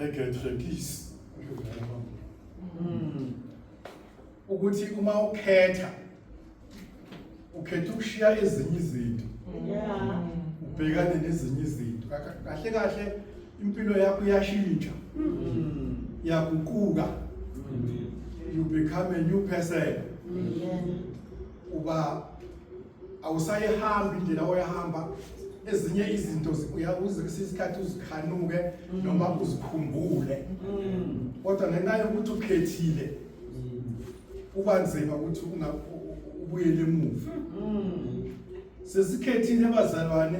egetrepisi hmm. ukuthi uma ukhetha ukhetha ukushiya ezinye izinto ubhekane nezinye izinto kahle kahle impilo yakho iyashintsha hmm. iyaguquka hmm. you become a new person uba awusayihambi indlela oyahamba ezinye izinto uyakuze kwesinye isikhathi uzikhanuke noma uzikhumbule kodwa ngenxa yokuthi ukhethile kuba nzima ukuthi ubuyele emuva sesikhethile abazalwane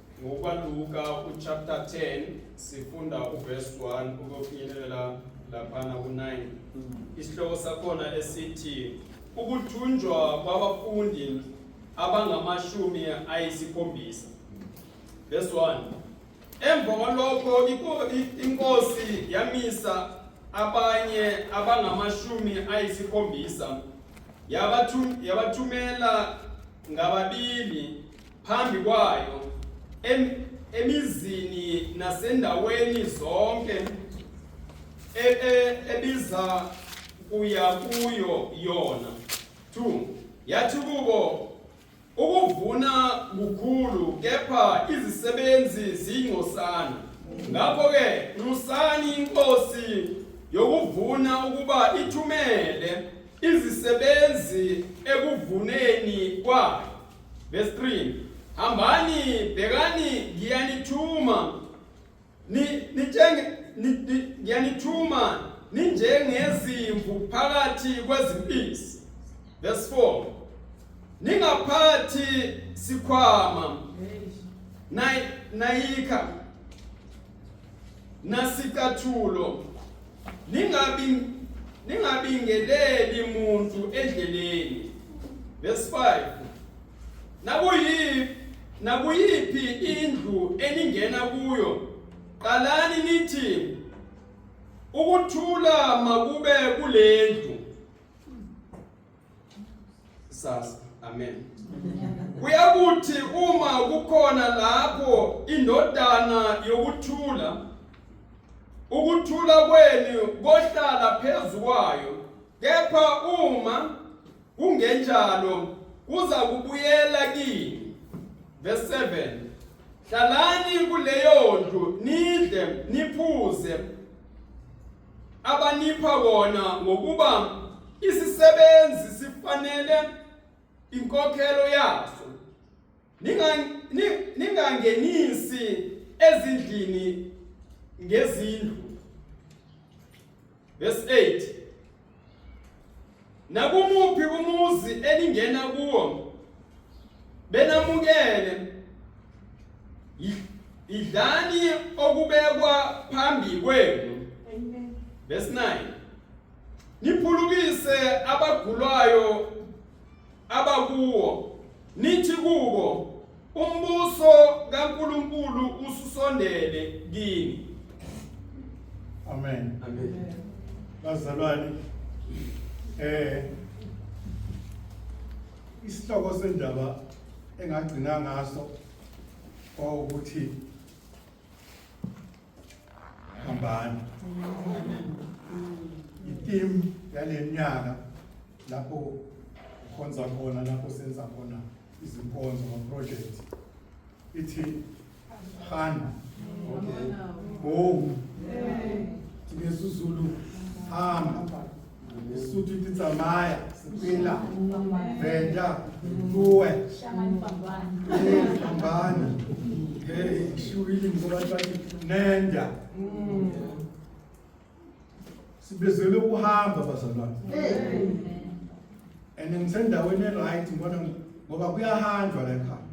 Ngokwaluka uchapter 10 sifunda uverse 1 ukufinyelela laphana ku-9 isihloko sakhona esithi ukuthunjwa kwabafundi abangamashumi ayisikhombisa verse 1 emva kwalokho iko- i- inkosi yamisa abanye abangamashumi ayisikhombisa yabathu- yabathumela ngababili phambi kwayo em, emizini nasendaweni zonke e, e, ebiza kuya kuyo yona 2 yathi kubo ukuvuna kukhulu kepha izisebenzi zingcosana ngakho ke nxusani inkosi yokuvuna ukuba ithumele Izisebenzi ekuvuneni kwayo. Verse 3. Hambani bhekani ngiyanithuma ni nitshenge ngiyanithuma ninjengezimvu phakathi kwezimpisi. Verse 4. Ningaphathi sikhwama nayikha Nasicathulo ningabi ningabingeleli muntu endleleni. Verse 5. Nakuyiphi nakuyiphi indlu eningena kuyo qalani nithi ukuthula makube kulendlu sasa amen kuyakuthi uma kukhona lapho indodana yokuthula ukuthula kwenu kohlala phezukwayo kepha uma kungenjalo kuza kubuyela kini verse 7 hlalani kuleyo ndlu nidle niphuze abanipha wona ngokuba isisebenzi sifanele inkokhelo yaso ningangenisi ezindlini ngezindlu verse 8 Nakumuphi umuzi eningena kuwo benamukele idlani okubekwa phambi kwenu verse 9 niphulukise abagulayo abakuwo, nithi kubo, umbuso kaNkulunkulu ususondele kini. Amen. Amen. Bazalwane eh isihloko sendaba engagcina ngaso ukuthi hambani itimu yale nyaka lapho ukhonza khona lapho senza khona izinkonzo maprojekthi ithi hana okay go tingezuzulu hamba Lesotho ithi tsamaya sepela venda tsoe fambana ishiwile ngobantu bathi nenda sibizelwe ukuhamba bazalwane and ngisendaweni eright ngibona ngoba kuyahanjwa la ekhaya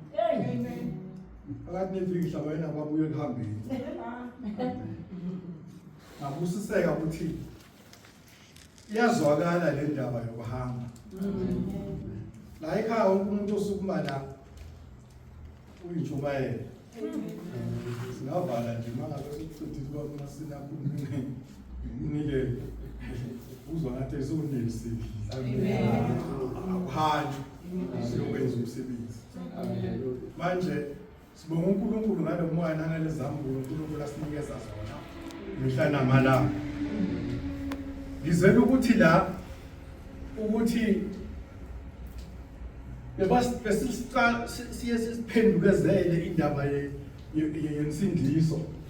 phakathi nevikisha wena kwabuye ekuhambeni ngabusiseka ukuthi iyazwakala le ndaba yokuhamba la ekhaya wonke umuntu osukuma la uyintshumayela singavala nje mangabe sikuchithile kwamna sinakhulumile nike uzwa ngathi esukunisi akuhanjwe siyokwenza umsebenzi manje Sibonga uNkulunkulu ngalo moya nangalezambulo uNkulunkulu asinikeza zona mihla namalanga. Ngizela ukuthi la ukuthi besisiqala siye siphendukezele indaba yensindiso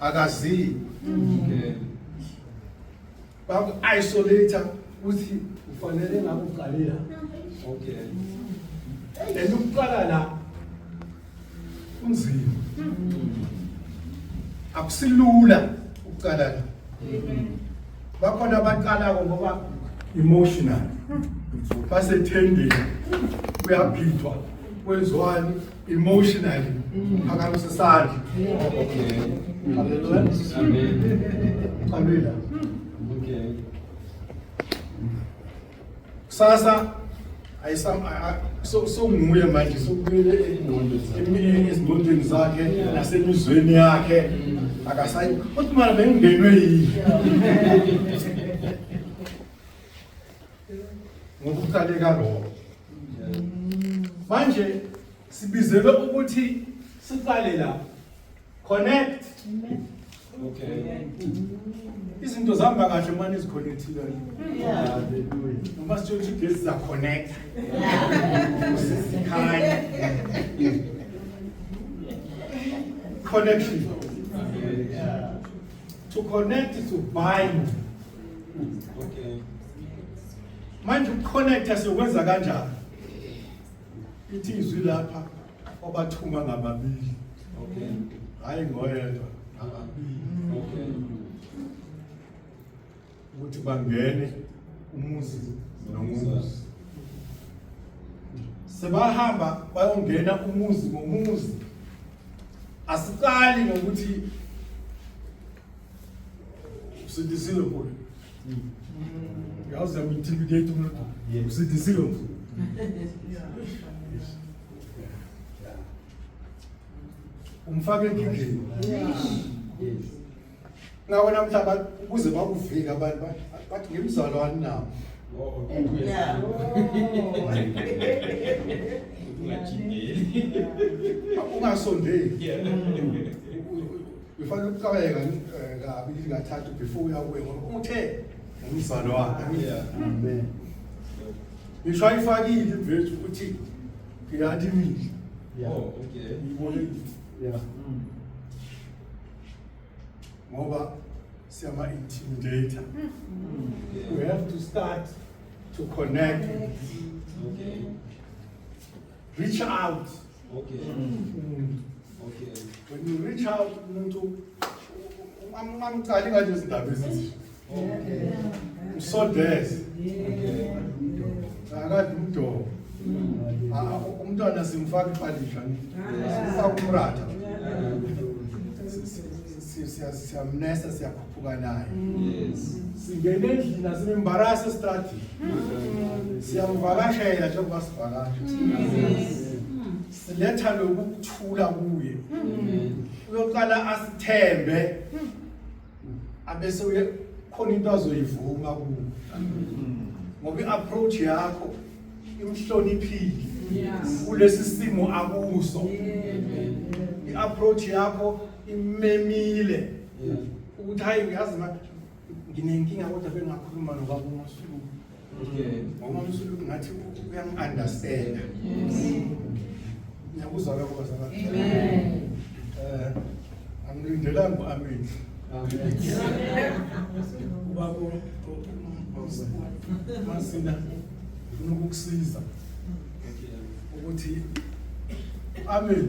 akaziyo baku isolate ukuthi ufanele ngabe uqale la okay and ukuqala la kunzima akusilula ukuqala la bakhona abaqalako ngoba emotional basethendeni kuyaphithwa kwenziwani emotionally phakamisa isandla haleluya qalwela kusasa sokunguye manje sokubuyele ezingqondweni zakhe nasemizweni yakhe akasayi kodwa mara bengingenwe yini ngokuqaleka lokho manje sibizelwe ukuthi siqale la connect okay izinto zihamba kahle uma niziconnectile noma sitshela ukuthi ugesi ziyaconnecta usizikhanya connection to connect to bind Okay. Manje ukuconnecta siyokwenza kanjani? Ithi izwi lapha obathuma ngababili. Okay. Hayi ngoyedwa ngababili. Okay. Ukuthi bangene umuzi nomuzi. Sebahamba bayongena umuzi ngomuzi. Asiqali ngokuthi Usindisiwe mfowethu. Yazi yamintimidate umuntu. Usindisiwe mfowethu. Umfake enkingeni. Ngawe namhla abantu ukuze bakuvike abantu ba- bathi ngimzalo aninawo. Ungajikeli. Ungasondeli. Ufanele ukucabeka eh, kabi ukuthi ngathatha before uya kuye ngoba umthe umzalo wakhe. Amen. Ngisho ayifakile imvezi ukuthi ngiyathi mina. Yeah. Oh, okay. Ngibone Yeah. ngoba siyama intimidator. We have to start to connect, Okay. reach out. Okay. Mm. Okay. When you reach out umuntu ungamqali ngathi izindaba ezinje. Okay. Usodeze. Okay. Akade umdomo. Mm. Ah, ah, umntwana simfaka ipadisha. Sisakumratha. siyamnesa siyakhuphuka naye singena endlini asimembarasi esitradini siyamvakashela njengoba sivakasha siletha lokukuthula kuye uyoqala asithembe abese uye khona into azoyivuma kuwe ngoba i-approach yakho imhloniphile kulesi simo akuso i-approach yakho imemile ukuthi hayi uyazi ma nginenkinga kodwa bengakhuluma nobaba umasulu ngoba umsulu ngathi uyangi-understanda ngiyakuzwa lokho bazalwane eh, angilindelanga u-amen ubaba masina ngifuna ukukusiza ukuthi u-amen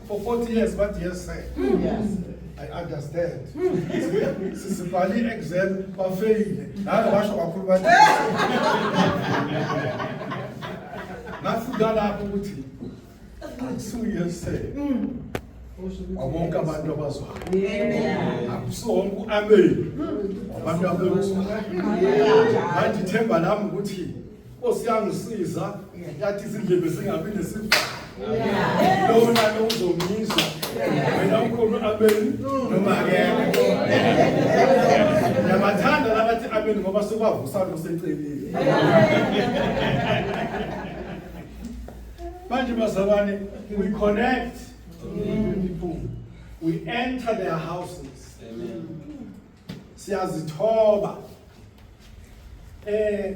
For 40 years what yes sir. Yes. I understand. Sisibhale i-exam bafeyile. Naye washo kakhulu bathi. Ngafunda lapho ukuthi akusuye se. Wonke abantu abazwayo. Akusonke u-amen. Abantu abekuzwayo. Manje ithemba lami ukuthi Nkosi yangisiza yathi izindlebe zingabi nesivalo. Lona lo uzomizwa. Wena ukhona abeni noma akekho. Namathanda labathi abeni ngoba sekwavusa lo secelile. Manje bazalwane we connect people. We enter their houses. Siyazithoba. Eh